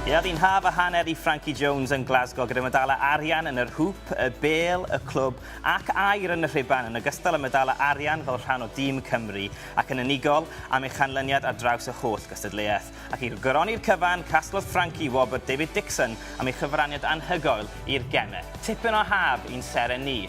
Ia, fu'n haf a hanner i Frankie Jones yn Glasgow gyda medalau arian yn yr hŵp, y bêl, y clwb ac aur yn y rhuban, yn ogystal â medalau arian fel rhan o dîm Cymru, ac yn unigol am ei chanlyniad ar draws y holl gystadleuaeth. Ac i goroni'r cyfan, casglodd Frankie wobr David Dixon am ei chyfraniad anhygoel i'r gemau. Tipyn o haf i'n seren ni.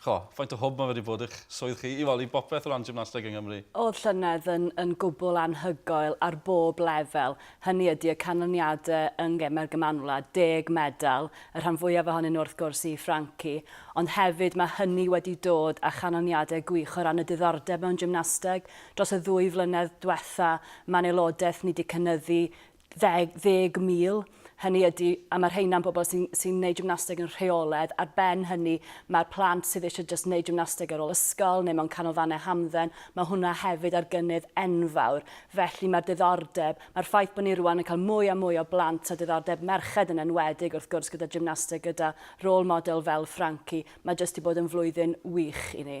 Ch'o, faint o hwb ma' wedi bod i'ch swydd chi i wely bopeth o ran gymnasteg yng Nghymru? O'dd llynedd yn yn gwbwl anhygoel ar bob lefel, hynny ydi y canlyniade yng Ngeme'r Gymanwlad, deg medal, y rhan fwyaf ohonyn nhw wrth gwrs i Franci, ond hefyd ma' hynny wedi dod â chanlyniade gwych o ran y diddordeb mewn gymnasteg. Dros y ddwy flynedd dwetha ma'n aelodaeth ni 'di cynyddu 30,000, hynny ydi, a mae rheina yn bobl sy'n sy wneud gymnasteg yn rheolaidd, ar ben hynny mae'r plant sydd eisiau jyst wneud gymnasteg ar ôl ysgol neu mewn canolfannau hamdden, mae hwnna hefyd ar gynnydd enfawr. Felly mae'r diddordeb, mae'r ffaith bod ni rwan yn cael mwy a mwy o blant a diddordeb merched yn enwedig wrth gwrs gyda gymnasteg gyda rôl model fel Frankie, mae jyst wedi bod yn flwyddyn wych i ni.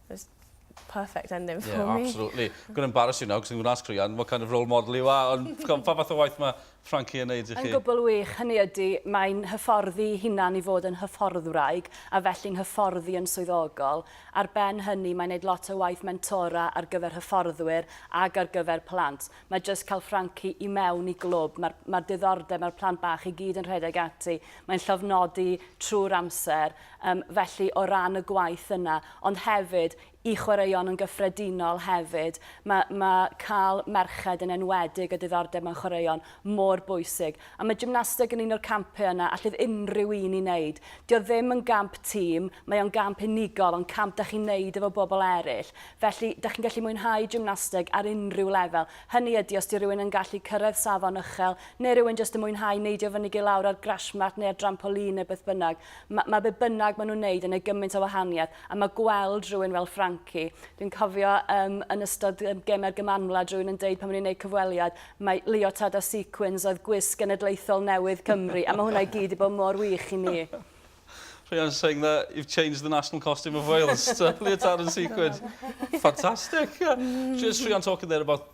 It's perfect ending for yeah, me. absolutely. Gwneud embarrass you now, cos ni'n gwneud sgrian, what kind of role model you are, ond pa fath o waith mae Frankie yn neud i chi? Yn gwbl wych, hynny ydy, mae'n hyfforddi hunan i fod yn hyfforddwraig, a felly'n hyfforddi yn swyddogol. Ar ben hynny, mae'n neud lot o waith mentora ar gyfer hyfforddwyr ag ar gyfer plant. Mae jyst cael Frankie i mewn i glwb, mae'r ma diddordeb, mae'r plant bach i gyd yn rhedeg ati, mae'n llofnodi trwy'r amser, Yym, felly, o ran y gwaith yna, ond hefyd i chwaraeon yn gyffredinol hefyd, ma' ma' cael merched yn enwedig â diddordeb mewn chwaraeon mor bwysig. A mae gymnasteg yn un o'r campau yna allith unrhyw un i wneud. Dio ddim yn gamp tîm, mae o'n gamp unigol, ond camp da chi'n wneud efo bobl eraill. Felly, da chi'n gallu mwynhau gymnasteg ar unrhyw lefel. Hynny ydy, os 'di rhywun yn gallu cyrraedd safon uchel, neu rywun jyst yn mwynhau neidio fyny i lawr ar grashmat neu ar drampoline neu beth bynnag, Mae ma be bynnag maen nhw'n wneud yn ei gymaint o wahaniaeth a mae gweld rhywun fel Frankie, dwi'n cofio um, yn ystod um, gemau'r gymanwlad rhywun yn deud pan o'n i'n gwneud cyfweliad, mae leotard a sequins oedd gwisg genedlaethol newydd Cymru a mae hwnna i gyd i bod mor wych i mi. Rhian saying that you've changed the national costume of Wales to leotard and sequins. Fantastic. Yeah. Mm. Just Rhian talking there about